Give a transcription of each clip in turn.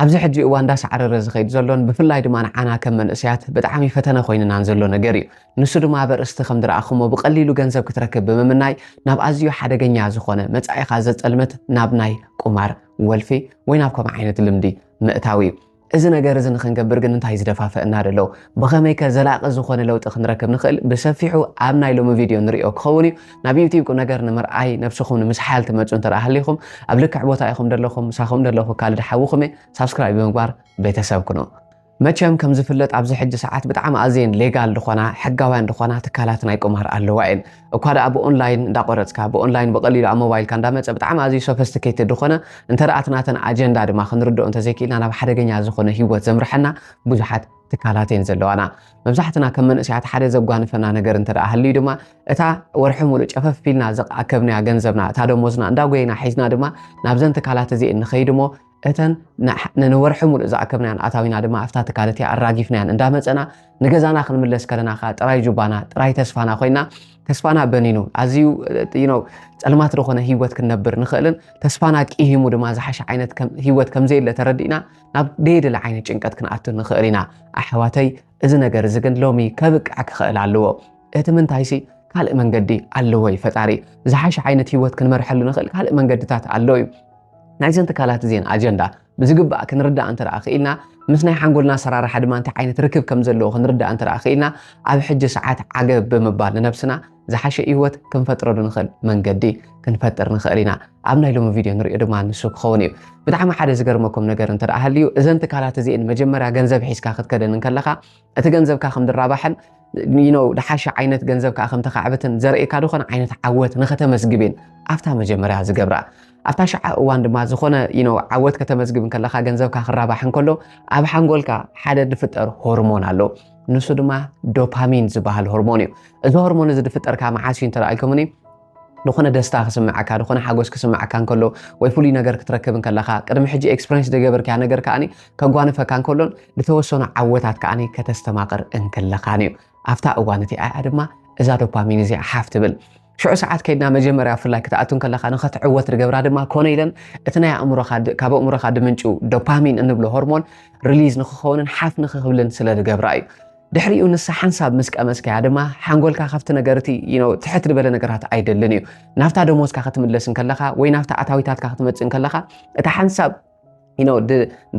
ኣብዚ ሕጂ እዋን እንዳሳዕረረ ዝኸይድ ዘሎን ብፍላይ ድማ ንዓና ከም መንእሰያት ብጣዕሚ ፈተነ ኮይንናን ዘሎ ነገር እዩ። ንሱ ድማ ኣብ ኣርእስቲ ከም ዝረኣኹሞ ብቐሊሉ ገንዘብ ክትረክብ ብምምናይ ናብ ኣዝዩ ሓደገኛ ዝኾነ መጻኢኻ ዘጸልምት ናብ ናይ ቁማር፣ ወልፊ ወይ ናብ ከምኡ ዓይነት ልምዲ ምእታው እዩ። እዚ ነገር እዚ ንኽንገብር ግን እንታይ ዝደፋፍእና ዘሎ? ብኸመይከ ዘላቒ ዝኾነ ለውጢ ክንረክብ ንኽእል? ብሰፊሑ ኣብ ናይ ሎሚ ቪድዮ ንርእዮ ክኸውን እዩ። ናብ ዩቲብ ቁምነገር ንምርኣይ ነብስኹም ንምስሓል ትመጹ እንተ ሃሊኹም ኣብ ልክዕ ቦታ ኢኹም ደለኹም ምሳኹም ደለኹ ካልድ ሓውኹም እየ ሳብስክራይብ ብምግባር ቤተሰብ ኩኑ መቸም ከም ዝፍለጥ ኣብዚ ሕጂ ሰዓት ብጣዕሚ ኣዝየን ሌጋል ዝኾና ሕጋውያን ዝኾና ትካላት ናይ ቁማር ኣለዋ እየን እኳ ደኣ ብኦንላይን እንዳቆረጽካ ብኦንላይን ብቐሊሉ ኣብ ሞባይልካ እንዳመጸ ብጣዕሚ ኣዝዩ ሶፈስቲኬትድ ዝኾነ እንተ ደኣ እቲ ናተን ኣጀንዳ ድማ ክንርድኦ እንተዘይክኢልና ናብ ሓደገኛ ዝኾነ ሂወት ዘምርሐና ብዙሓት ትካላት እየን ዘለዋና። መብዛሕትና ከም መንእሰያት ሓደ ዘጓንፈና ነገር እንተ ሃልዩ ድማ እታ ወርሒ ሙሉእ ጨፈፍ ፊልና ዘኣከብናያ ገንዘብና እታ ደሞዝና እንዳጎይና ሒዝና ድማ ናብዘን ትካላት እዚኤን ንኸይድ እሞ እተን ንወርሒ ሙሉእ ዝኣከብናያን ኣታዊና ድማ ኣብታ ትካል እቲኣ ኣራጊፍናያን እንዳመፀና ንገዛና ክንምለስ ከለና ከዓ ጥራይ ጁባና ጥራይ ተስፋና ኮይና ተስፋና በኒኑ ኣዝዩ ነው ፀልማት ዝኾነ ሂወት ክንነብር ንኽእልን ተስፋና ቂሂሙ ድማ ዝሓሸ ዓይነት ሂወት ከምዘየለ ተረዲእና ናብ ደየድሊ ዓይነት ጭንቀት ክንኣቱ ንኽእል ኢና ኣሕዋተይ እዚ ነገር እዚ ግን ሎሚ ከብቅዕ ክኽእል ኣለዎ እቲ ምንታይሲ ካልእ መንገዲ ኣለዎ እዩ ፈጣሪ ዝሓሸ ዓይነት ሂወት ክንመርሐሉ ንኽእል ካልእ መንገድታት ኣሎ እዩ ናይዘን ትካላት እዚን ኣጀንዳ ብዝግባእ ክንርዳእ እንተ ክኢልና ምስ ናይ ሓንጎልና ኣሰራርሓ ድማ እንታይ ዓይነት ርክብ ከም ዘለዎ ክንርዳእ እንተ ክኢልና ኣብ ሕጂ ሰዓት ዓገብ ብምባል ንነብስና ዝሓሸ ህይወት ክንፈጥረሉ ንኽእል መንገዲ ክንፈጥር ንኽእል ኢና ኣብ ናይ ሎሚ ቪድዮ ንሪኦ ድማ ንሱ ክኸውን እዩ ብጣዕሚ ሓደ ዝገርመኩም ነገር እንተ ሃልዩ እዘን ትካላት እዚእን መጀመርያ ገንዘብ ሒዝካ ክትከደን ከለኻ እቲ ገንዘብካ ከም ድራባሕን ነው ድሓሸ ዓይነት ገንዘብ ከዓ ከም ተካዕብትን ዘርእካ ዝኾነ ዓይነት ዓወት ንኸተመስግብ እየን ኣብታ መጀመርያ ዝገብራ ኣብታ ሸዓ እዋን ድማ ዝኾነ ነው ዓወት ከተመዝግብ ከለኻ ገንዘብካ ክራባሕ እንከሎ ኣብ ሓንጎልካ ሓደ ዝፍጠር ሆርሞን ኣሎ ንሱ ድማ ዶፓሚን ዝበሃል ሆርሞን እዩ እዚ ሆርሞን እዚ ዝፍጠርካ መዓስ እዩ እንተረኣልኩምኒ ዝኾነ ደስታ ክስምዓካ ዝኾነ ሓጎስ ክስምዓካ እንከሎ ወይ ፍሉይ ነገር ክትረክብ እንከለኻ ቅድሚ ሕጂ ኤክስፐሪንስ ደገበርካያ ነገር ከዓኒ ከጓንፈካ እንከሎን ዝተወሰኑ ዓወታት ከዓኒ ከተስተማቕር እንክለኻን እዩ ኣብታ እዋን እቲ ኣያ ድማ እዛ ዶፓሚን እዚኣ ሓፍ ትብል ሽዑ ሰዓት ከይድና መጀመርያ ብፍላይ ክትኣቱ እንከለኻ ንኸትዕወት ዝገብራ ድማ ኮነ ኢለን እቲ ናይ ኣእምሮኻ ካብ ኣእምሮኻ ድምንጩ ዶፓሚን እንብሎ ሆርሞን ሪሊዝ ንክኸውንን ሓፍ ንክክብልን ስለ ዝገብራ እዩ ድሕሪኡ ንሳ ሓንሳብ ምስ ቀመስካያ ድማ ሓንጎልካ ካብቲ ነገር እቲ ትሕት ዝበለ ነገራት ኣይደልን እዩ ናብታ ደሞዝካ ክትምለስ እንከለካ ወይ ናብታ ኣታዊታትካ ክትመፅእ እንከለካ እታ ሓንሳብ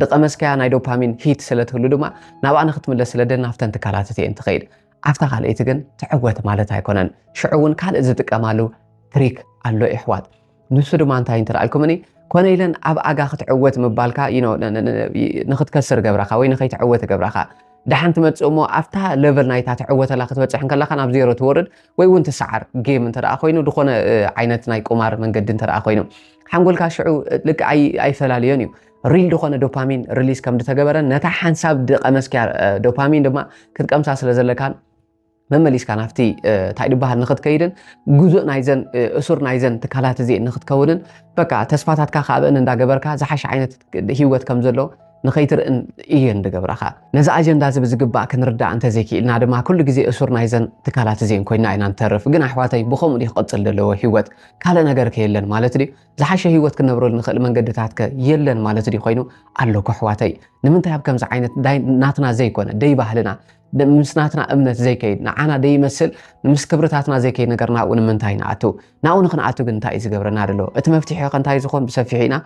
ድቐመስካያ ናይ ዶፓሚን ሂት ስለትህሉ ድማ ናብኣ ንክትምለስ ስለደ ናብተን ትካላት እየን ትኸይድ ኣብታ ካልኣይቲ ግን ትዕወት ማለት ኣይኮነን ሽዑ እውን ካልእ ዝጥቀማሉ ትሪክ ኣሎ ይሕዋት ንሱ ድማ እንታይ እንትረኣልኩምኒ ኮነ ኢለን ኣብ ኣጋ ክትዕወት ምባልካ ንክትከስር ገብረኻ ወይ ንከይትዕወት ገብረኻ ድሓን ትመፅእ እሞ ኣብታ ለቨል ናይታ ትዕወተላ ክትበፅሕ ከለካ ናብ ዜሮ ትወርድ ወይ እውን ትሰዓር ጌም እንተ ኮይኑ ዝኾነ ዓይነት ናይ ቁማር መንገዲ እንተ ኮይኑ ሓንጎልካ ሽዑ ልክ ኣይፈላለዮን እዩ ሪል ዝኾነ ዶፓሚን ሪሊስ ከም ዝተገበረን ነታ ሓንሳብ ድቐመስኪያ ዶፓሚን ድማ ክትቀምሳ ስለ ዘለካን መመሊስካ ናብቲ እንታይ ድበሃል ንክትከይድን ጉዙእ ናይዘን እሱር ናይዘን ትካላት እዚ ንክትከውንን በቃ ተስፋታትካ ካብእን እንዳገበርካ ዝሓሸ ዓይነት ሂወት ከም ዘሎ ንኸይትርእን እየን ድገብራኻ ነዚ ኣጀንዳ እዚ ብዝግባእ ክንርዳእ እንተዘይክኢልና ድማ ኩሉ ግዜ እሱር ናይዘን ትካላት እዚን ኮይና ኢና ንተርፍ ግን ኣሕዋተይ ብከምኡ ድዩ ክቕፅል ዘለዎ ሂወት ካልእ ነገር ከየለን ማለት ድዩ ዝሓሸ ህይወት ክንነብረሉ ንኽእል መንገድታት ከ የለን ማለት ድዩ ኮይኑ ኣሎ ከሕዋተይ ንምንታይ ኣብ ከምዚ ዓይነት ናትና ዘይኮነ ደይ ባህልና ምስ ናትና እምነት ዘይከይድ ንዓና ደይመስል ምስ ክብርታትና ዘይከይድ ነገር ናብኡ ንምንታይ ንኣቱ ናብኡ ንክንኣቱ ግን እንታይ እዩ ዝገብረና ደሎ እቲ መፍትሒ ከ እንታይ ዝኾን ብሰፊሑ ኢና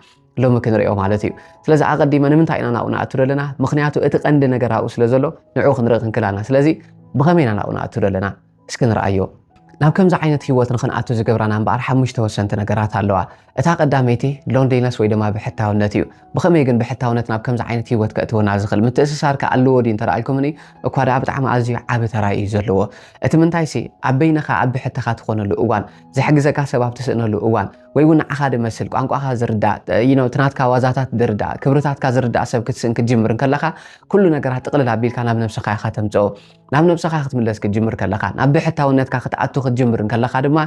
ሎሚ ክንሪኦ ማለት እዩ ስለዚ ኣቐዲመ ንምንታይ ኢና ናብኡ ንኣቱ ደለና ምክንያቱ እቲ ቀንዲ ነገር ኣብኡ ስለ ዘሎ ንዕኡ ክንርኢ ክንክል ኣለና ስለዚ ብኸመይ ኢና ናብኡ ንኣቱ ደለና እስኪ ንርኣዮ። ናብ ከምዚ ዓይነት ህይወት ንኽንኣቱ ዝገብራና እምበኣር ሓሙሽተ ወሰንቲ ነገራት ኣለዋ። እታ ቀዳመይቲ ሎንሊነስ ወይ ድማ ብሕታውነት እዩ። ብኸመይ ግን ብሕታውነት ናብ ከምዚ ዓይነት ህይወት ከእትወና ዝኽእል? ምትእስሳር ከ ኣለዎ ድዩ እንተደኣ ኢልኩምኒ፣ እኳ ደኣ ብጣዕሚ ኣዝዩ ዓቢ ተራ እዩ ዘለዎ። እቲ ምንታይሲ ኣብ በይንኻ ኣብ ብሕትኻ ትኾነሉ እዋን፣ ዝሕግዘካ ሰብ ኣብ ትስእነሉ እዋን፣ ወይ እውን ንዓኻ ድመስል፣ ቋንቋኻ ዝርዳእ፣ you know እቲ ናትካ ዋዛታት ድርዳእ፣ ክብርታትካ ዝርዳእ ሰብ ክትስእን ክትጅምር እንከለኻ፣ ኩሉ ነገራት ጥቕልል ኣቢልካ ናብ ነብስኻ ኢኻ ተምጽኦ። ናብ ነብስኻ ክትምለስ ክትጅምር ከለኻ፣ ናብ ብሕታውነትካ ክትኣቱ ክትጅምር እንከለኻ ድማ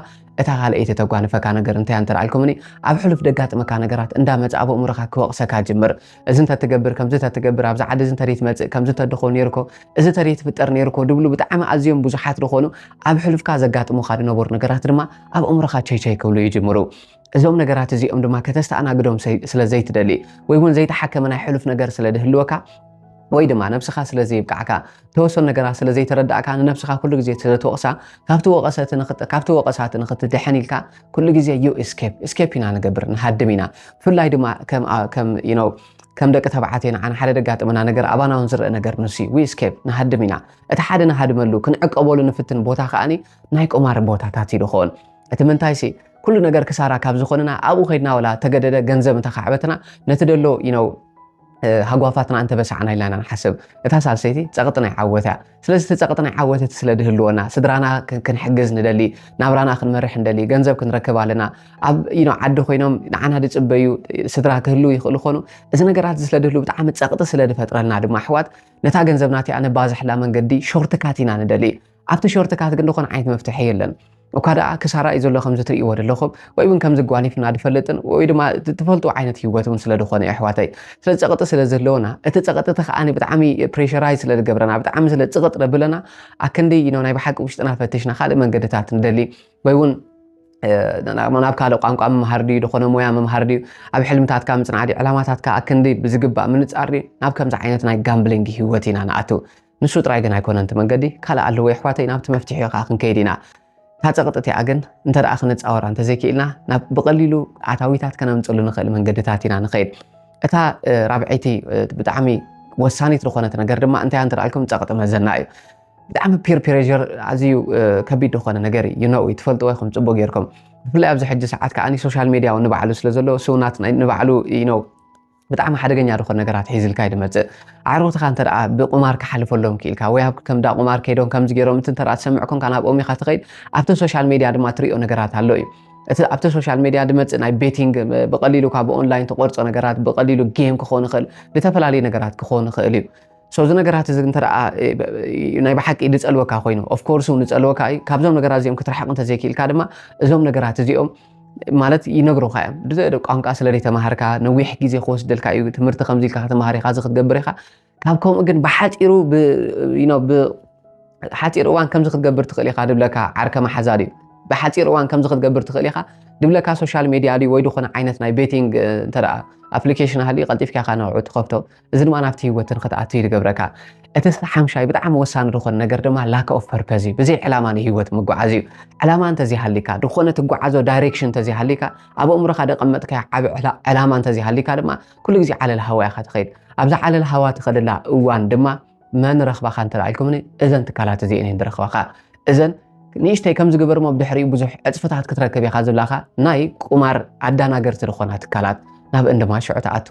እታ ካልኣይቲ እተጓንፈካ ነገር እንታይ እያ እንተልዓልኩምኒ፣ ኣብ ሕሉፍ ደጋጥመካ ነገራት እንዳመጸ ኣብ ኣእምሮኻ ክወቕሰካ ይጅምር። እዚ እንተትገብር፣ ከምዚ እንተትገብር፣ ኣብዚ ዓዲ እዚ እንተደይትመጽእ፣ ከምዚ እንተድኾ ኔርኮ፣ እዚ እንተደይትፍጠር ኔርኮ ድብሉ ብጣዕሚ ኣዝዮም ብዙሓት ድኾኑ ኣብ ሕሉፍካ ዘጋጥሙኻ ድነበሩ ነገራት ድማ ኣብ ኣእምሮኻ ቸይቸይ ክብሉ ይጅምሩ። እዞም ነገራት እዚኦም ድማ ከተስተኣናግዶም ስለ ዘይትደሊ ወይ እውን ዘይተሓከመ ናይ ሕሉፍ ነገር ስለ ዝህልወካ ወይ ድማ ነብስኻ ስለ ዘይብቃዕካ ተወሰኑ ነገራት ስለ ዘይተረዳእካ ንነብስኻ ኩሉ ግዜ ስለ ትወቕሳ ካብቲ ወቐሰቲ ካብቲ ወቐሳቲ ንኽትድሕን ኢልካ ኩሉ ግዜ ዩ ስኬፕ ስኬፕ ኢና ንገብር ንሃድም ኢና ብፍላይ ድማ ከም ከም ደቂ ተባዕትዮ ንዓና ሓደ ደጋጥመና ነገር ኣባና እውን ዝረአ ነገር ንሱ ዩ ስኬፕ ንሃድም ኢና እቲ ሓደ ንሃድመሉ ክንዕቀበሉ ንፍትን ቦታ ከዓኒ ናይ ቁማር ቦታታት እዩ ድኸውን እቲ ምንታይ ሲ ኩሉ ነገር ክሳራ ካብ ዝኾንና ኣብኡ ከድና ወላ ተገደደ ገንዘብ እንተካዕበትና ነቲ ደሎ ይነው ሃጓፋትና እንተበሳዕና ኢልና ኢና ንሓስብ እታ ሳልሰይቲ ፀቕጢ ናይ ዓወት እያ ስለዚ እቲ ፀቕጢ ናይ ዓወት እቲ ስለ ድህልወና ስድራና ክንሕግዝ ንደሊ ናብራና ክንመርሕ ንደሊ ገንዘብ ክንረክብ ኣለና ኣብ ዓዲ ኮይኖም ንዓና ድፅበዩ ስድራ ክህልው ይኽእሉ ኾኑ እዚ ነገራት ስለ ድህሉ ብጣዕሚ ፀቕጢ ስለ ድፈጥረልና ድማ ኣሕዋት ነታ ገንዘብና እቲኣ ነባዝሕላ መንገዲ ሾርትካት ኢና ንደሊ ኣብቲ ሾርት ካት ግን ዝኾነ ዓይነት መፍትሒ የለን። እኳ ደኣ ክሳራ እዩ ዘሎ ከምዚ ትርእይዎ ዘለኹም ወይ እውን ከምዚ ጓኒፍና ድፈልጥን ወይ ድማ ትፈልጡ ዓይነት ህይወት እውን ስለ ዝኾነ እዩ ኣሕዋተይ ስለ ፀቕጢ ስለ ዘለዎና እቲ ፀቕጢ እቲ ከዓኒ ብጣዕሚ ፕሬሽራይ ስለ ዝገብረና ብጣዕሚ ስለ ፅቕጥ ደብለና ኣክንዲ ይኖ ናይ ብሓቂ ውሽጥና ፈትሽና ካልእ መንገድታት ንደሊ ወይ እውን ናብ ካልእ ቋንቋ ምምሃር ድዩ ዝኾነ ሞያ ምምሃር ድዩ ኣብ ሕልምታትካ ምፅናዕ ድዩ ዕላማታትካ ኣክንዲ ብዝግባእ ምንፃር ድዩ ናብ ከምዚ ዓይነት ናይ ጋምብሊንግ ህይወት ኢና ንኣትው ንሱ ጥራይ ግን ኣይኮነን እቲ መንገዲ ካልእ ኣለዎ የሕዋተይ ናብቲ መፍትሒኡ ከኣ ክንከይድ ኢና እታ ጸቕጢ እቲኣ ግን እንተ ክንጻወራ እንተ ዘይክኢልና ናብ ብቐሊሉ ኣታዊታት ከነምጽሉ ንኽእል መንገድታት ኢና ንኸይድ እታ ራብዐይቲ ብጣዕሚ ወሳኒት ዝኾነት ነገር ድማ እንታይ እንተ ኣልኩም ጸቕጢ መዘና እዩ ብጣዕሚ ፒር ፕሬር ኣዝዩ ከቢድ ዝኾነ ነገር እዩ ነው ትፈልጥዎ ይኹም ፅቡቅ ጌርኩም ብፍላይ ኣብዚ ሕጂ ሰዓት ከዓ ሶሻል ሚዲያ ንባዕሉ ስለ ዘሎ ስውናት ንባዕሉ ነው ብጣዕሚ ሓደገኛ ዝኾነ ነገራት ሒዝልካ እዩ ዝመጽእ። ኣዕሩኽትኻ እንተ ደኣ ብቁማር ክሓልፈሎም ክኢልካ ወይ ኣብ ከምዳ ቁማር ከይዶም ከምዚ ገይሮም እቲ እንተ ደኣ ትሰምዕ ኮንካ ናብኦም ኢኻ ትኸይድ ኣብቲ ሶሻል ሜድያ ድማ ትርእዮ ነገራት ኣሎ እዩ። እቲ ኣብቲ ሶሻል ሜድያ ዝመጽእ ናይ ቤቲንግ ብቐሊሉ ካብ ኦንላይን ትቖርጾ ነገራት ብቐሊሉ ጌም ክኾን ይኽእል፣ ዝተፈላለዩ ነገራት ክኾን ይኽእል እዩ። ሶ እዚ ነገራት እዚ እንተ ናይ ብሓቂ ዝፀልወካ ኮይኑ ኦፍ ኮርስ እውን ዝፀልወካ እዩ ካብዞም ነገራት እዚኦም ክትርሕቕ እንተዘይክኢልካ ድማ እዞም ነገራት እዚኦም ማለት ይነግሩካ እዮም ቋንቋ ስለ ዘይተማሃርካ ነዊሕ ግዜ ክወስደልካ እዩ ትምህርቲ ከምዚ ኢልካ ከተማሃር ኢኻ እዚ ክትገብር ኢኻ ካብ ከምኡ ግን ብሓፂሩ ብሓፂር እዋን ከምዚ ክትገብር ትኽእል ኢኻ ድብለካ ዓርከ መሓዛ ድዩ ብሓፂር እዋን ከምዚ ክትገብር ትኽእል ኢኻ ድብለካ ሶሻል ሜድያ ድዩ ወይ ዝኾነ ዓይነት ናይ ቤቲንግ እንተ ኣፕሊኬሽን ሃልዩ ቀልጢፍካ ኢኻ ንዕዑ ትኸፍቶ እዚ ድማ ናብቲ ህይወት ንክትኣቱ እዩ ዝገብረካ እቲ ሓምሻይ ብጣዕሚ ወሳኒ ዝኾነ ነገር ድማ ላክ ኦፍ ፐርፐዝ እዩ ብዘይ ዕላማ ንህይወት ምጓዓዝ እዩ ዕላማ እንተዘይሃሊካ ዝኾነ ትጓዓዞ ዳይሬክሽን እንተዘይሃሊካ ኣብ ኣእምሮኻ ደቐመጥካዮ ዓብ ዕላማ እንተዘይሃሊካ ድማ ኩሉ ግዜ ዓለል ሃዋ ኢኻ ትኸይድ ኣብዛ ዓለል ሃዋ ትኸደላ እዋን ድማ መን ረኽባኻ እንተ ኢልኩምኒ እዘን ትካላት እዚአን እየን ዝረኽባኻ እዘን ንእሽተይ ከም ዝገበርሞ ብድሕሪኡ ብዙሕ ዕፅፍታት ክትረክብ ኢኻ ዝብላኻ ናይ ቁማር ኣዳናገርቲ ዝኾና ትካላት ናብ እንድማ ሽዑ ትኣቱ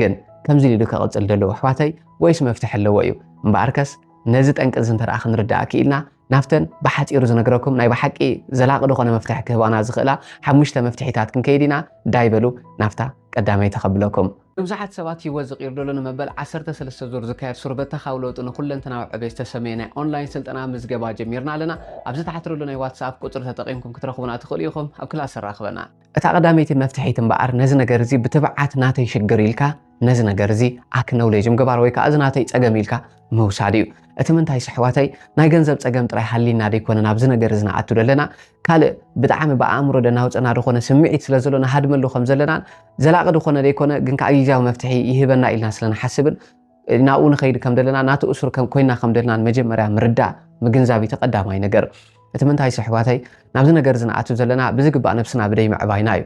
ግን ከምዚ ኢሉ ከቕጽል ደለዎ ኣሕዋተይ ወይስ መፍትሒ ኣለዎ እዩ እምበኣርከስ ነዚ ጠንቂ እዚ እንተደኣ ክንርዳእ ክኢልና ናብተን ብሓፂሩ ዝነግረኩም ናይ ብሓቂ ዘላቂ ዝኾነ መፍትሒ ክህባና ዝኽእላ ሓሙሽተ መፍትሒታት ክንከይድ ኢና ዳይ በሉ ናብታ ቀዳመይ ተኸብለኩም ብዙሓት ሰባት ህይወት ዝቕይር ደሎ ንመበል 13 ዙር ዝካየድ ሱርበተኻዊ ለውጢ ንኩለንተናዊ ዕቤ ዝተሰመየ ናይ ኦንላይን ስልጠና ምዝገባ ጀሚርና ኣለና ኣብዚ ተሓትረሉ ናይ ዋትስኣፕ ቁፅሪ ተጠቒምኩም ክትረኽቡና ትኽእሉ ኢኹም ኣብ ክላስ ኣራኽበና እታ ቀዳመይቲ መፍትሒት እምበኣር ነዚ ነገር እዚ ብትብዓት ናተይ ሽግር ኢልካ ነዚ ነገር እዚ ኣክነውሌጅ ምግባር ወይ ከዓ እዚ ናተይ ፀገም ኢልካ ምውሳድ እዩ። እቲ ምንታይስ ኣሕዋተይ ናይ ገንዘብ ፀገም ጥራይ ሃልይና ዶ ኣይኮነን ኣብዚ ነገር እዚ ንኣቱ ዘለና ካልእ ብጣዕሚ ብኣእምሮ ደናውፀና ዝኾነ ስምዒት ስለ ዘሎ ንሃድመሉ ከም ዘለናን ዘላቒ ዝኾነ ዘይኮነ ግን ከዓ ግዜያዊ መፍትሒ ይህበና ኢልና ስለ ንሓስብን ናብኡ ንኸይድ ከም ደለና ናቲ እሱር ከም ኮይና ከም ደለና መጀመርያ ምርዳእ ምግንዛብ እቲ ቀዳማይ ነገር እቲ ምንታይ ስሕባተይ ናብዚ ነገር ዝንኣቱ ዘለና ብዝግባእ ነብስና ብደይ ምዕባይና እዩ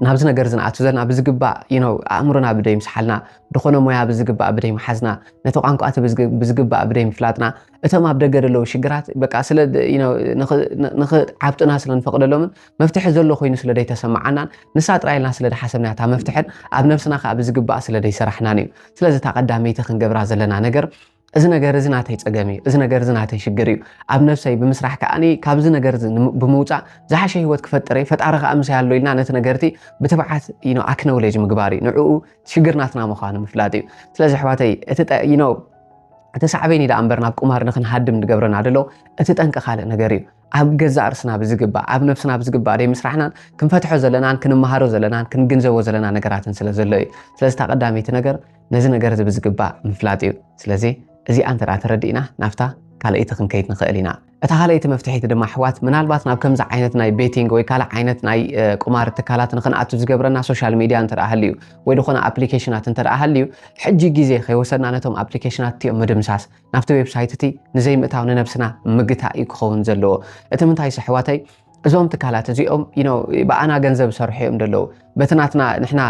ናብዚ ነገር ዝንኣቱ ዘለና ብዝግባእ ነው ኣእምሮና ብደይ ምስሓልና ድኾነ ሞያ ብዝግባእ ብደይ ምሓዝና ነቲ ቋንቋ እቲ ብዝግባእ ብደይ ምፍላጥና እቶም ኣብ ደገ ዘለዉ ሽግራት በቃ ስለ ንክዓብጡና ስለ ንፈቕደሎምን መፍትሒ ዘሎ ኮይኑ ስለ ደይተሰማዓናን ንሳ ጥራይ ኢልና ስለ ደሓሰብና እታ መፍትሕን ኣብ ነብስና ከዓ ብዝግባእ ስለ ደይሰራሕናን እዩ ስለዚ እታ ቀዳመይቲ ክንገብራ ዘለና ነገር እዚ ነገር እዚ ናተይ ፀገም እዩ እዚ ነገር እዚ ናተይ ሽግር እዩ ኣብ ነብሰይ ብምስራሕ ከዓ ካብዚ ነገር እዚ ብምውፃእ ዝሓሸ ሂወት ክፈጥር እየ ፈጣሪ ከዓ ምሳይ ኣሎ ኢልና ነቲ ነገርቲ ብትብዓት ኣክነውሌጅ ምግባር እዩ ንዕኡ ሽግር ናትና ምዃኑ ምፍላጥ እዩ ስለዚ ኣሕዋተይ እቲ እቲ ሳዕቤን እዩ ደኣ እምበር ናብ ቁማር ንክንሃድም ዝገብረና ደሎ እቲ ጠንቂ ካልእ ነገር እዩ ኣብ ገዛእ ርስና ብዝግባእ ኣብ ነብስና ብዝግባእ ደይ ምስራሕናን ክንፈትሖ ዘለናን ክንመሃሮ ዘለናን ክንግንዘቦ ዘለና ነገራትን ስለ ዘሎ እዩ ስለዚ እታ ቀዳመይቲ ነገር ነዚ ነገር እዚ ብዝግባእ ምፍላጥ እዩ ስለዚ እዚኣ እንተ ተረዲእና ናብታ ካልኣይቲ ክንከይድ ንኽእል ኢና እታ ካልኣይቲ መፍትሒት ድማ ኣሕዋት ምናልባት ናብ ከምዚ ዓይነት ናይ ቤቲንግ ወይ ካልእ ዓይነት ናይ ቁማር ትካላት ንክንኣቱ ዝገብረና ሶሻል ሚድያ እንተ ሃልዩ ወይ ዝኾነ ኣፕሊኬሽናት እንተ ሃልዩ ሕጂ ግዜ ከይወሰድና ነቶም ኣፕሊኬሽናት እቲኦም ምድምሳስ ናብቲ ዌብሳይት እቲ ንዘይምእታው ንነብስና ምግታእ እዩ ክኸውን ዘለዎ እቲ ምንታይስ ኣሕዋተይ እዞም ትካላት እዚኦም ብኣና ገንዘብ ዝሰርሑ እዮም ደለዉ በቲ ናትና ንሕና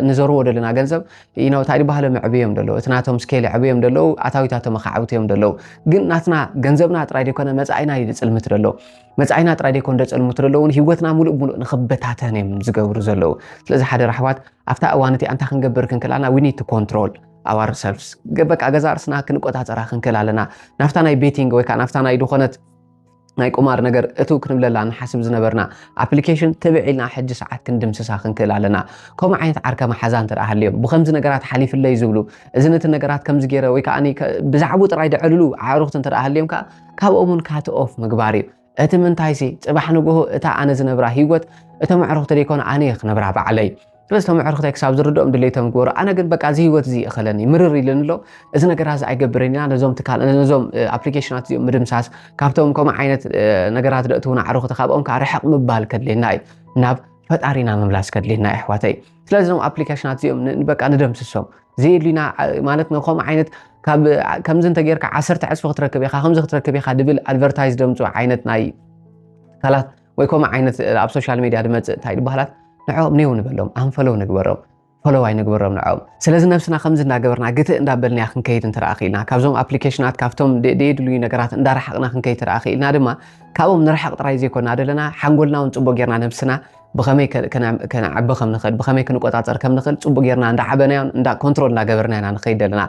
ንዘርዎ ዘለና ገንዘብ እንታይ ድባህለ መዕብ እዮም ደለዉ እቲ ናቶም ስኬል ዕብ እዮም ደለዉ ኣታዊታቶም ኣካዕብት እዮም ደለዉ ግን ናትና ገንዘብና ጥራይ ዘይኮነ መፃኢና እዩ ዝፅልምት ደለዉ መፃኢና ጥራይ ዘይኮነ ደፅልምት ደለዉን ሂወትና ሙሉእ ሙሉእ ንክበታተን እዮም ዝገብሩ ዘለዉ ስለዚ ሓደ ራሕዋት ኣብታ እዋን እቲ ኣንታ ክንገብር ክንክላና ዊኒት ኮንትሮል ኣዋር ሰልፍስ በቃ ገዛ ርስና ክንቆፃፀራ ክንክል ኣለና ናፍታ ናይ ቤቲንግ ወይከዓ ናፍታ ናይ ድኾነት ናይ ቁማር ነገር እትው ክንብለላ ንሓስብ ዝነበርና ኣፕሊኬሽን ትብዕ ኢልና ሕጂ ሰዓት ክንድምስሳ ክንክእል ኣለና ከምኡ ዓይነት ዓርከ መሓዛ እንተ ሃልዮም ብከምዚ ነገራት ሓሊፍለይ ዝብሉ እዚ ነቲ ነገራት ከምዚ ገይረ ወይ ከዓ ብዛዕቡ ጥራይ ደዕልሉ ኣዕሩኽቲ እንተ ሃልዮም ከዓ ካብኦም እውን ካት ኦፍ ምግባር እዩ እቲ ምንታይሲ ፅባሕ ንግሆ እታ ኣነ ዝነብራ ሂወት እቶም ኣዕሩኽቲ ዘይኮነ ኣነ እየ ክነብራ ባዕለይ ስለዚ እቶም ኣዕርኽተይ ክሳብ ዝርድኦም ድሌቶም ግበሩ ኣነ ግን በቃ እዚ ህይወት እዚ ይእኸለኒ ምርር ኢሉኒ ኣሎ እዚ ነገራት እዚ ኣይገብርን ኢና ነዞም ትካል ነዞም ኣፕሊኬሽናት እዚኦም ምድምሳስ ካብቶም ከምኡ ዓይነት ነገራት ደእትውና ኣዕርኽቲ ካብኦም ከዓ ርሕቕ ምባል ከድልየና እዩ ናብ ፈጣሪና ምምላስ ከድልየና እዩ ኣሕዋተይ ስለዚ እዞም ኣፕሊኬሽናት እዚኦም በቃ ንደምስሶም ዘየድልዩና ማለት ከምኡ ዓይነት ካብ ከምዚ እንተጌርካ ዓሰርተ ዕፅፊ ክትረክብ ኢኻ ከምዚ ክትረክብ ኢኻ ድብል ኣድቨርታይዝ ደምፁ ዓይነት ናይ ትካላት ወይ ከምኡ ዓይነት ኣብ ሶሻል ሚድያ ድመፅእ እንታይ ድበሃላት ንዕኦም ኔው ንበሎም ኣንፈለው ንግበሮም ፈለዋይ ንግበሮም ንዕኦም ስለዚ ነብስና ከምዚ እንዳገበርና ግትእ እንዳበልናያ ክንከይድ እንትረኣ ክኢልና ካብዞም ኣፕሊኬሽናት ካብቶም ደየድልዩ ነገራት እንዳረሓቕና ክንከይድ ትረኣ ክኢልና ድማ ካብኦም ንርሕቕ ጥራይ ዘይኮና ዘለና ሓንጎልና እውን ፅቡቅ ጌርና ነብስና ብኸመይ ከነዓቢ ከም ንኽእል ብኸመይ ክንቆፃፀር ከም ንኽእል ፅቡቅ ጌርና እንዳዓበናዮ እንዳ ኮንትሮል እንዳገበርና ኢና ንኸይድ ዘለና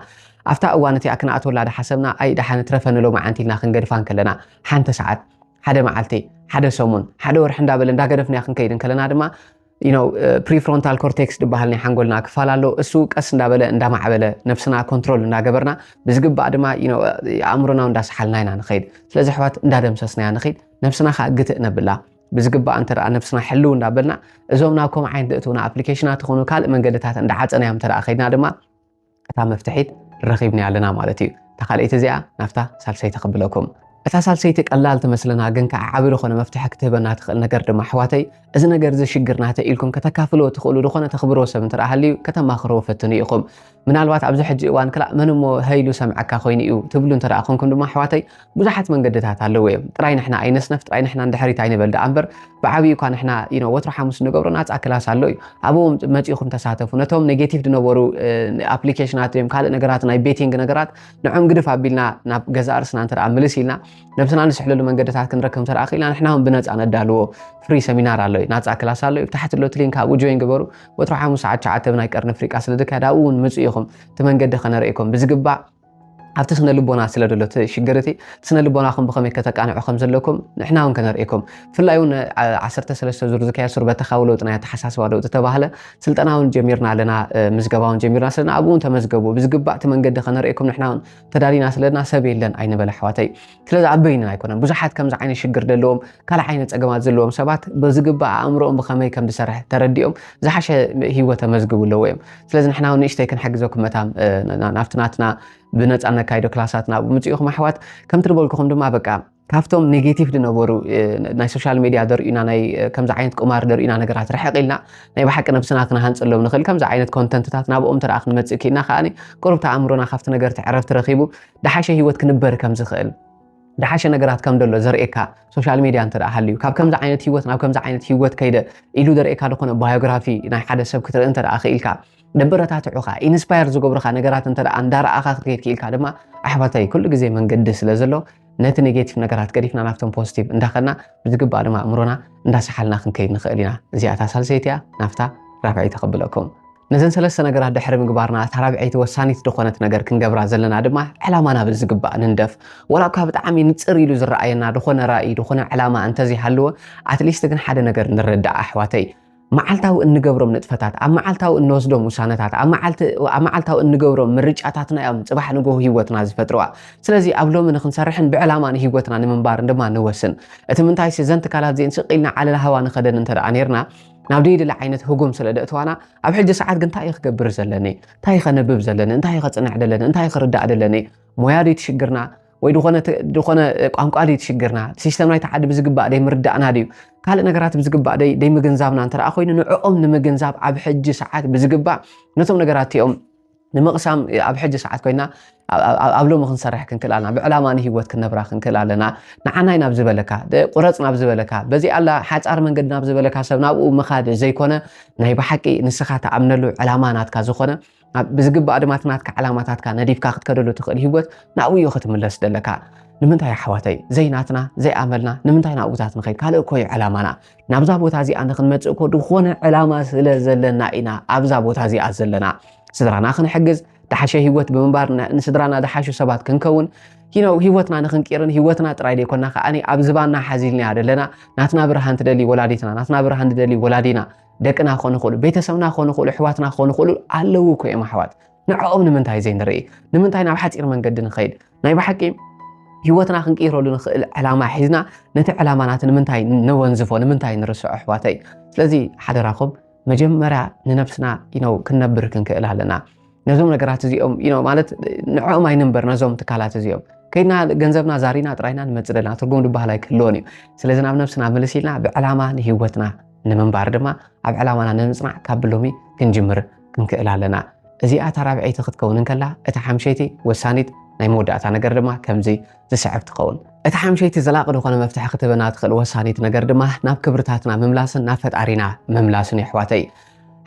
ኣብታ እዋን እቲኣ ክንኣትወላ ዳሓሰብና ኣይ ዳሓን ትረፈኒ ሎማዓንቲ ኢልና ክንገድፋ ከለና ሓንቲ ሰዓት ሓደ መዓልቲ፣ ሓደ ሰሙን፣ ሓደ ወርሒ እንዳበለ እንዳገደፍናዮ ክንከይድ እንከለና ድማ ፕሪፍሮንታል ኮርቴክስ ዝበሃል ናይ ሓንጎልና ክፋል ኣሎ። እሱ ቀስ እንዳበለ እንዳማዕበለ ነፍስና ኮንትሮል እንዳገበርና ብዝግባእ ድማ ኣእምሮና እንዳሰሓልና ኢና ንኸይድ። ስለዚ ኣሕዋት እንዳደምሰስናያ ንኸይድ፣ ነፍስና ከዓ ግትእ ነብላ። ብዝግባእ እንተ ነፍስና ሕልው እንዳበልና እዞም ናብ ኮምዓይን ዝእትውና ኣፕሊኬሽናት ዝኾኑ ካልእ መንገድታት እንዳዓፀናዮም እንተ ከይድና ድማ እታ መፍትሒት ረኺብናያ ኣለና ማለት እዩ። እታ ካልኣይቲ እዚኣ ናብታ ሳልሰይቲ ክብለኩም። እታ ሳልሰይቲ ቀላል ትመስለና ግን ከዓ ዓቢ ዝኾነ መፍትሒ ክትህበና ትኽእል ነገር ድማ ኣሕዋተይ እዚ ነገር እዚ ሽግር ናተ ኢልኩም ከተካፍልዎ ትኽእሉ ዝኾነ ተኽብርዎ ሰብ እንተ ሃልዩ ከተማኽርዎ ፈትኑ ኢኹም። ምናልባት ኣብዚ ሕጂ እዋን ክላእ መን እሞ ሀይሉ ሰምዐካ ኮይኑ እዩ ትብሉ እንተ ኮንኩም ድማ ኣሕዋተይ ብዙሓት መንገድታት ኣለዉ እዮም ጥራይ ንሕና ኣይነስነፍ ጥራይ ንሕና ንድሕሪት ኣይንበል ደኣ እምበር ብዓብዩ እኳ ንሕና ዩኖ ወትሮ ሓሙስ ንገብሮ ናፃ ክላስ ኣሎ እዩ ኣብኡ መፂእኹም ተሳተፉ ነቶም ኔጌቲቭ ዝነበሩ ኣፕሊኬሽናት እዮም ካልእ ነገራት ናይ ቤቲንግ ነገራት ንዕም ግድፍ ኣቢልና ናብ ገዛእ ርስና እንተ ምልስ ኢልና ነብስና ንስሕለሉ መንገድታት ክንረከብ እንተ ክኢልና ንሕና እውን ብነፃ ነዳልዎ ፍሪ ሰሚናር ኣሎ እዩ ናፃ ክላስ ኣሎ እዩ ታሕቲ ሎት ሊንክ ኣብኡ ጆይን ግበሩ ወትሮ ሓሙስ ሰዓት ሸዓተ ብናይ ቀርኒ ኣፍሪቃ ስለ ዝካየድ ኣብኡ እውን ምፁ ኢኹም እቲ መንገዲ ከነርእኩም ብዝግባእ ኣብቲ ስነ ልቦና ስለ ደሎ እቲ ሽግር እቲ ስነ ልቦናኹም ብኸመይ ከተቃንዑ ከም ዘለኩም ንሕና እውን ከነርእኩም ብፍላይ እውን ዓሰርተ ሰለስተ ዙር ዝካየድ ሱር በተኻዊ ለውጢ ናይ ኣተሓሳስባ ለውጢ ዝተባህለ ስልጠና እውን ጀሚርና ኣለና ምዝገባ እውን ጀሚርና ስለና ኣብኡ እውን ተመዝገቡ ብዝግባእ እቲ መንገዲ ከነርእኩም ንሕና እውን ተዳሊና ስለና ሰብ የለን ኣይንበለ ኣሕዋተይ ስለዚ ኣበይና ኣይኮነን ብዙሓት ከምዚ ዓይነት ሽግር ዘለዎም ካልእ ዓይነት ፀገማት ዘለዎም ሰባት ብዝግባእ ኣእምሮኦም ብኸመይ ከም ዝሰርሕ ተረዲኦም ዝሓሸ ሂወት ተመዝግቡ ኣለዎ እዮም ስለዚ ንሕና እውን ንእሽተይ ክንሕግዘኩም መታ ናብቲ ናትና ብነፃ ነካይዶ ክላሳት ናብ ምፅኢኹም ኣሕዋት ከምቲ ዝበልኩኹም ድማ በቃ ካብቶም ኔጌቲቭ ዝነበሩ ናይ ሶሻል ሚድያ ዘርእዩና ናይ ከምዚ ዓይነት ቁማር ዘርእዩና ነገራት ርሕቕ ኢልና ናይ ብሓቂ ነብስና ክነሃንፀሎም ንኽእል ከምዚ ዓይነት ኮንተንትታት ናብኦም ተረኣ ክንመፅእ ክኢልና ከዓኒ ቁርብቲ ኣእምሮና ካብቲ ነገር ትዕረፍቲ ረኺቡ ደሓሸ ህይወት ክንበር ከም ዝኽእል ደሓሸ ነገራት ከም ደሎ ዘርእየካ ሶሻል ሚድያ እንተ ሃልዩ ካብ ከምዚ ዓይነት ህይወት ናብ ከምዚ ዓይነት ህይወት ከይደ ኢሉ ዘርእየካ ዝኾነ ባዮግራፊ ናይ ሓደ ሰብ ክትርኢ እንተ ክኢልካ ደበረታትዑኻ ኢንስፓየር ዝገብሩኻ ነገራት እንተ እንዳረኣኻ ክትከይድ ክኢልካ ድማ ኣሕዋተይ ኩሉ ግዜ መንገዲ ስለ ዘሎ ነቲ ኔጌቲቭ ነገራት ገዲፍና ናብቶም ፖዚቲቭ እንዳኸና ብዝግባእ ድማ ኣእምሮና እንዳሰሓልና ክንከይድ ንኽእል ኢና። እዚኣ እታ ሳልሰይቲ እያ፣ ናብታ ራብዐይቲ ከብለኩም። ነዘን ሰለስተ ነገራት ድሕሪ ምግባርና እታ ራብዐይቲ ወሳኒት ዝኾነት ነገር ክንገብራ ዘለና ድማ ዕላማና ብዝግባእ ንንደፍ። ዋላ እኳ ብጣዕሚ ንጽር ኢሉ ዝረኣየና ዝኾነ ራኢ ዝኾነ ዕላማ እንተዘይሃለወ ኣትሊስት ግን ሓደ ነገር ንረዳእ ኣሕዋተይ መዓልታዊ እንገብሮም ንጥፈታት ኣብ መዓልታዊ እንወስዶም ውሳነታት ኣብ መዓልታዊ እንገብሮም ምርጫታትና እዮም ጽባሕ ንግሆ ህይወትና ዝፈጥርዋ። ስለዚ ኣብ ሎሚ ንክንሰርሕን ብዕላማ ንህይወትና ንምንባርን ድማ ንወስን። እቲ ምንታይሲ እዘን ትካላት እዚኤን ስቅ ኢልና ዓለል ሃዋ ንኸደን እንተ ደኣ ኔርና ናብ ደይድለ ዓይነት ህጉም ስለ ደእትዋና ኣብ ሕጂ ሰዓት ግን እንታይ እየ ክገብር ዘለኒ? እንታይ እየ ከነብብ ዘለኒ? እንታይ እየ ከጽንዕ ደለኒ? እንታይ እየ ክርዳእ ደለኒ? ሞያ ድዩ ትሽግርና? ወይ ዝኾነ ዝኾነ ቋንቋ ድዩ ትሽግርና ሲስተም ናይቲ ዓዲ ብዝግባእ ደይ ምርዳእና ድዩ ካልእ ነገራት ብዝግባእ ደይ ደይ ምግንዛብና እንተ ኮይኑ ንዕኦም ንምግንዛብ ኣብ ሕጂ ሰዓት ብዝግባእ ነቶም ነገራት እቲኦም ንምቕሳም ኣብ ሕጂ ሰዓት ኮይና ኣብ ሎሚ ክንሰርሕ ክንክእል ኣለና ብዕላማ ንሂወት ክንነብራ ክንክእል ኣለና ንዓናይ ናብ ዝበለካ ቁረፅ ናብ ዝበለካ በዚ ኣላ ሓፃር መንገዲ ናብ ዝበለካ ሰብ ናብኡ ምኻድ ዘይኮነ ናይ ብሓቂ ንስኻ ተኣምነሉ ዕላማ ናትካ ዝኾነ ብዝግባእ ድማ እቲ ናትካ ዕላማታትካ ነዲፍካ ክትከደሉ ትኽእል ሂወት ናብኡ እዩ ክትምለስ ደለካ ንምንታይ ኣሕዋተይ ዘይናትና ዘይኣመልና ንምንታይ ናብኡታት ንኸይድ ካልእ እኮ እዩ ዕላማና ናብዛ ቦታ እዚኣ ንክንመፅእ እኮ ዝኾነ ዕላማ ስለ ዘለና ኢና ኣብዛ ቦታ እዚኣ ዘለና ስድራና ክንሕግዝ ድሓሸ ሂወት ብምንባር ንስድራና ድሓሹ ሰባት ክንከውን ነው ሂወትና ንክንቂርን ሂወትና ጥራይ ደይኮና ከዓ ኣብ ዝባና ሓዚልና ዘለና ናትና ብርሃን ትደሊ ወላዲትና ናትና ብርሃን ትደሊ ወላዲና ደቅና ክኾኑ ይኽእሉ ቤተሰብና ክኾኑ ይኽእሉ ኣሕዋትና ክኾኑ ይኽእሉ ኣለዉ እኮ እዮም ኣሕዋት ንዕኦም ንምንታይ ዘይንርኢ? ንምንታይ ናብ ሓፂር መንገዲ ንኸይድ? ናይ ብሓቂ ህይወትና ክንቅይረሉ ንኽእል ዕላማ ሒዝና ነቲ ዕላማናት ንምንታይ ነወንዝፎ ንምንታይ ንርስዖ ኣሕዋተይ ስለዚ ሓደራኹም መጀመርያ ንነብስና ኢነው ክንነብር ክንክእል ኣለና ነዞም ነገራት እዚኦም ኢኖ ማለት ንዕኦም ኣይንንበር ነዞም ትካላት እዚኦም ከይድና ገንዘብና ዛሪና ጥራይና ንመፅ ደና ትርጉም ድበሃል ኣይክህልዎን እዩ ስለዚ ናብ ነብስና ምልስ ኢልና ብዕላማ ንሂወትና ንምንባር ድማ ኣብ ዕላማና ንምፅናዕ ካብ ብሎሚ ክንጅምር ክንክእል ኣለና። እዚኣ እታ ራብዐይቲ ክትከውን እንከላ፣ እታ ሓምሸይቲ፣ ወሳኒት፣ ናይ መወዳእታ ነገር ድማ ከምዚ ዝስዕብ ትኸውን። እታ ሓምሸይቲ ዘላቂ ዝኾነ መፍትሒ ክትህበና ትኽእል ወሳኒት ነገር ድማ ናብ ክብርታትና ምምላስን ናብ ፈጣሪና ምምላስን እዩ ኣሕዋተይ።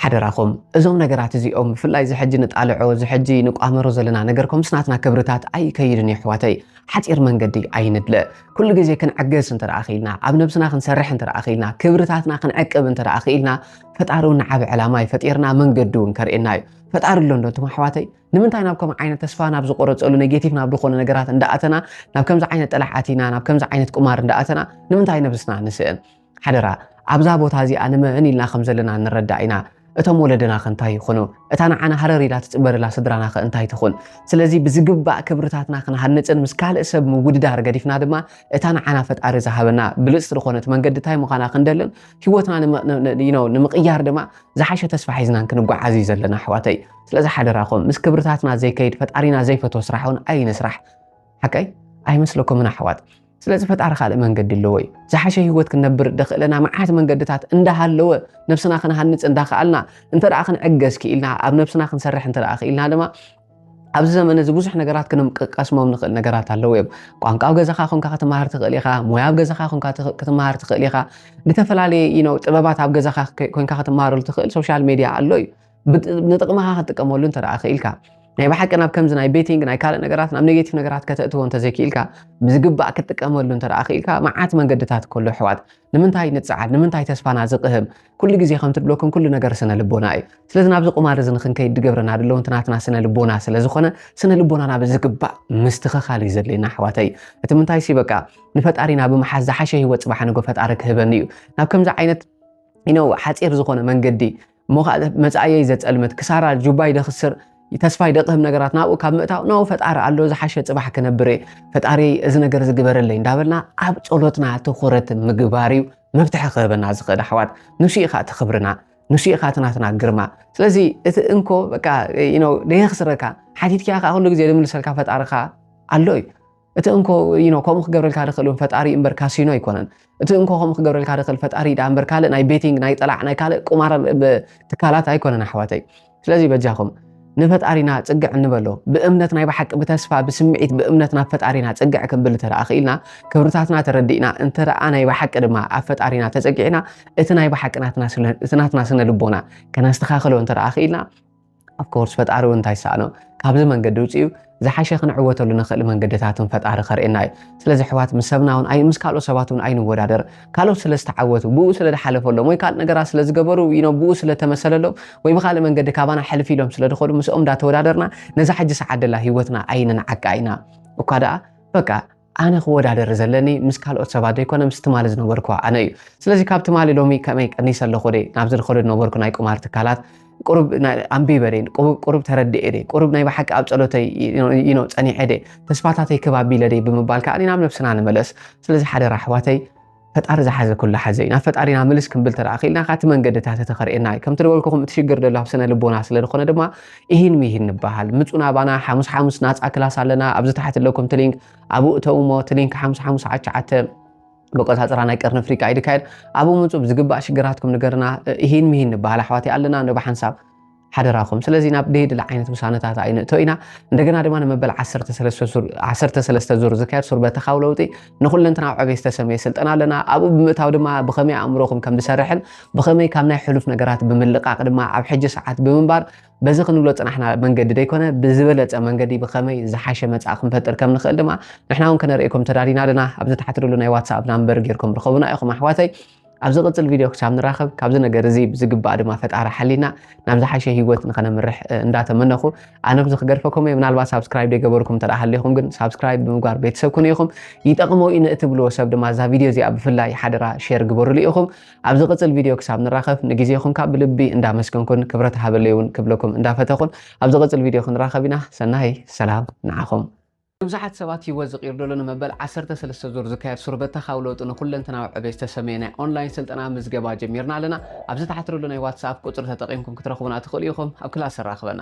ሓደራኹም እዞም ነገራት እዚኦም ብፍላይ እዚ ሕጂ ንጣልዖ እዚ ሕጂ ንቋመሮ ዘለና ነገር ከምስ ናትና ክብርታት ኣይከይድን እዩ ኣሕዋተይ ሓፂር መንገዲ ኣይንድለ ኩሉ ግዜ ክንዕገስ እንተ ክኢልና ኣብ ነብስና ክንሰርሕ እንተ ክኢልና ክብርታትና ክንዕቅብ እንተ ክኢልና ፈጣሪ እውን ዓብ ዕላማ እዩ ፈጢርና መንገዲ እውን ከርእየና እዩ ፈጣሪ ኣሎ እንዶ እቶም ኣሕዋተይ ንምንታይ ናብ ከም ዓይነት ተስፋ ናብ ዝቆረፀሉ ኔጌቲቭ ናብ ዝኾነ ነገራት እንዳኣተና ናብ ከምዚ ዓይነት ጥራሕ ኣቲና ናብ ከምዚ ዓይነት ቁማር እንዳኣተና ንምንታይ ነብስና ንስእን ሓደራ ኣብዛ ቦታ እዚኣ ንመን ኢልና ከም ዘለና ንረዳእ ኢና እቶም ወለደና ከ እንታይ ይኹኑ እታ ንዓና ሃረር ኢላ ትፅበርላ ስድራና ከ እንታይ ትኹን ስለዚ ብዝግባእ ክብርታትና ክንሃንፅን ምስ ካልእ ሰብ ምውድዳር ገዲፍና ድማ እታ ንዓና ፈጣሪ ዝሃበና ብልፅቲ ዝኾነት መንገዲ እንታይ ምዃና ክንደልን ሂወትና ንምቕያር ድማ ዝሓሸ ተስፋ ሒዝናን ክንጓዓዝ እዩ ዘለና ኣሕዋተይ ስለዚ ሓደራኹም ምስ ክብርታትና ዘይከይድ ፈጣሪና ዘይፈትዎ ስራሕ እውን ኣይንስራሕ ሓቀይ ኣይመስለኩምን ኣሕዋት ስለዚ ፈጣሪ ካልእ መንገዲ ኣለዎ እዩ ዝሓሸ ሂወት ክንነብር ደኽእለና መዓት መንገድታት እንዳሃለወ ነብስና ክንሃንፅ እንዳኸኣልና እንተ ክንዕገዝ ክኢልና ኣብ ነብስና ክንሰርሕ እንተ ክኢልና ድማ ኣብዚ ዘመን እዚ ብዙሕ ነገራት ክንቀስሞም ንኽእል ነገራት ኣለዉ እዮም ቋንቋ ኣብ ገዛኻ ኮንካ ክትመሃር ትኽእል ኢኻ ሞያ ኣብ ገዛኻ ኮንካ ክትመሃር ትኽእል ኢኻ ዝተፈላለየ ኢኖ ጥበባት ኣብ ገዛኻ ኮንካ ክትመሃረሉ ትኽእል ሶሻል ሜድያ ኣሎ እዩ ንጥቕምኻ ክትጥቀመሉ እንተ ክኢልካ ናይ ብሓቂ ናብ ከምዚ ናይ ቤቲንግ ናይ ካልእ ነገራት ናብ ኔጌቲቭ ነገራት ከተእትዎ እንተዘይክኢልካ ብዝግባእ ክትጥቀመሉ እንተ ክኢልካ መዓት መንገድታት ከሎ ኣሕዋት ንምንታይ ንጸዓድ ንምንታይ ተስፋና ዝቕህም ኩሉ ግዜ ከም ትብለኩም ኩሉ ነገር ስነ ልቦና እዩ ስለዚ ናብዚ ቁማር እዚ ንክንከይድ ድገብረና ድለው እንትናትና ስነ ልቦና ስለ ዝኾነ ስነ ልቦናና ብዝግባእ ምስትኸኻል እዩ ዘድልየና ኣሕዋተይ እቲ ምንታይ ሲ በቃ ንፈጣሪና ብምሓዝ ዝሓሸ ህይወት ፅባሕ ንጎ ፈጣሪ ክህበኒ እዩ ናብ ከምዚ ዓይነት ኢነው ሓፂር ዝኾነ መንገዲ እሞ ከዓ መፃእየይ ዘፀልምት ክሳራ ጁባይ ደኽስር ተስፋይ ደቕህም ነገራት ናብኡ ካብ ምእታው ናብኡ ፈጣሪ ኣሎ ዝሓሸ ፅባሕ ክነብር እየ ፈጣሪ እዚ ነገር ዝግበረለይ እንዳበልና ኣብ ፀሎትና ትኩረት ምግባር እዩ መፍትሒ ክህበና ዝኽእል ኣሕዋት ንሱ ኢኻ እቲ ክብርና ንሱ ኢኻ እቲ ናትና ግርማ ስለዚ እቲ እንኮ በቃ ደየኽስረካ ሓቲትኪያ ከዓ ኩሉ ግዜ ዝምልሰልካ ፈጣርኻ ኣሎ እዩ እቲ እንኮ ዩኖ ከምኡ ክገብረልካ ድኽእል እውን ፈጣሪ እምበር ካሲኖ ኣይኮነን እቲ እንኮ ከምኡ ክገብረልካ ድኽእል ፈጣሪ ዳ እምበር ካልእ ናይ ቤቲንግ ናይ ጠላዕ ናይ ካልእ ቁማር ትካላት ኣይኮነን ኣሕዋተይ ስለዚ በጃኹም ንፈጣሪና ፅግዕ እንበሎ ብእምነት ናይ ብሓቂ ብተስፋ ብስምዒት ብእምነት ናብ ፈጣሪና ፅግዕ ክንብል እንተ ክኢልና ክብርታትና ተረዲእና እንተ ናይ ብሓቂ ድማ ኣብ ፈጣሪና ተፀጊዕና እቲ ናይ ብሓቂ ናትና ስነ ልቦና ከነስተኻኽሎ እንተ ክኢልና of course ፈጣሪ እውን እንታይ ይሰኣኖ ካብዚ መንገዲ ውፅኡ ዝሓሸ ክንዕወተሉ ንኽእል መንገድታትን ፈጣሪ ከርእየና እዩ ስለዚ ኣሕዋት ምስ ሰብና እውን ኣይ ምስ ካልኦት ሰባት እውን ኣይንወዳደር ካልኦት ስለ ዝተዓወቱ ብኡ ስለ ዝሓለፈሎም ወይ ካልእ ነገራት ስለ ዝገበሩ ኢኖ ብኡ ስለ ተመሰለሎም ወይ ብካልእ መንገዲ ካባና ሕልፍ ኢሎም ስለ ዝኸዱ ምስኦም እንዳተወዳደርና ነዛ ሕጂ ሰዓት ደላ ሂወትና ኣይንንዓቃ ኢና እኳ ደኣ በቃ ኣነ ክወዳደር ዘለኒ ምስ ካልኦት ሰባት ዘይኮነ ምስ ትማሊ ዝነበርኩ ኣነ እዩ ስለዚ ካብ ትማሊ ሎሚ ከመይ ቀኒሰ ኣለኹ ደይ ናብ ዝድኸዶ ዝነበርኩ ናይ ቁማር ትካላት ቁሩብ ኣንቢበ ደይ ቁሩብ ተረድኤ ደይ ቁሩብ ናይ ብሓቂ ኣብ ጸሎተይ ኢኖ ጸኒሐ ደይ ተስፋታተይ ክብ ኣቢለ ደይ ብምባል ከዓ ናብ ነብስና ንመለስ ስለዚ ሓደራ ኣሕዋተይ ፈጣሪ ዝሓዘ ኩሉ ሓዘ እዩ ናብ ፈጣሪ ናብ ምልስ ክንብል ተደኣ ክኢልና ካቲ መንገድታት እቲ ከርእየና እዩ ከምቲ ዝበልኩኹም እቲ ሽግር ደሎ ኣብ ስነ ልቦና ስለ ዝኾነ ድማ ኢሂን ምሂን ንበሃል ምጹና ባና ሓሙስ ሓሙስ ናጻ ክላስ ኣለና ኣብዚ ታሕቲ ኣለኩም ትሊንክ ኣብኡ እተው እሞ ትሊንክ ሓሙስ ሓሙስ ዓቻዓተ መቆፃፀራ ናይ ቀርኒ ኣፍሪካ ይድካየድ ኣብኡ ምፁ ብዝግባእ ሽግራትኩም ንገርና ኢሂን ምሂን ንበሃል ኣሕዋት ኣለና ንብ ሓንሳብ ሓደራኹም። ስለዚ ናብ ደይድለ ዓይነት ውሳነታት ኣይንእቶ ኢና። እንደገና ድማ ንመበል ዓሰርተ ሰለስተ ዙር ዓሰርተ ሰለስተ ዙር ዝካየድ ሱር በተኻዊ ለውጢ ንኹለንትናዊ ዕቤት ዝተሰመየ ስልጠና ኣለና። ኣብኡ ብምእታው ድማ ብኸመይ ኣእምሮኹም ከም ዝሰርሕን ብኸመይ ካብ ናይ ሕሉፍ ነገራት ብምልቃቕ ድማ ኣብ ሕጂ ሰዓት ብምንባር በዚ ክንብሎ ፅናሕና መንገዲ ደይኮነ ብዝበለፀ መንገዲ ብኸመይ ዝሓሸ መፃእ ክንፈጥር ከም ንኽእል ድማ ንሕና እውን ከነርእየኩም ተዳሊና ኣለና። ኣብዚ ታሕቲ ዘሎ ናይ ዋትስኣፕ ናምበር ጌርኩም ርኸቡና ኢኹም ኣሕዋተይ። ኣብ ዝቕፅል ቪድዮ ክሳብ ንራኸብ ካብዚ ነገር እዚ ብዝግባእ ድማ ፈጣሪ ሓሊና ናብ ዝሓሸ ሂወት ንኸነምርሕ እንዳተመነኹ ኣነ ብዚ ክገድፈኩም እየ ምናልባት ሳብስክራይብ ደይገበርኩም እንተ ሃሊኹም ግን ሳብስክራይብ ብምግባር ቤተሰብ ኩኑ ኢኹም ይጠቕሞ እዩ ንእትብልዎ ሰብ ድማ እዛ ቪድዮ እዚኣ ብፍላይ ሓደራ ሼር ግበሩሉ ኢኹም ኣብ ዝቕፅል ቪድዮ ክሳብ ንራኸብ ንግዜኹም ካብ ብልቢ እንዳመስገንኩን ክብረት ሃበለይ እውን ክብለኩም እንዳፈተኹን ኣብ ዝቕፅል ቪድዮ ክንራኸብ ኢና ሰናይ ሰላም ንዓኹም ንብዙሓት ሰባት ህይወት ዝቕይር ዘሎ ንመበል ዓሰርተ ሰለስተ ዙር ዝካየድ ሱር በተኻዊ ለውጢ ንኩለንተናዊ ዕቤት ዝተሰምየ ናይ ኦንላይን ስልጠና ምዝገባ ጀሚርና ኣለና። ኣብዚ ታሕቲ ዘሎ ናይ ዋትስኣፕ ቁጽሪ ተጠቒምኩም ክትረኽቡና ትኽእሉ ኢኹም። ኣብ ክላስ ኣራኽበና።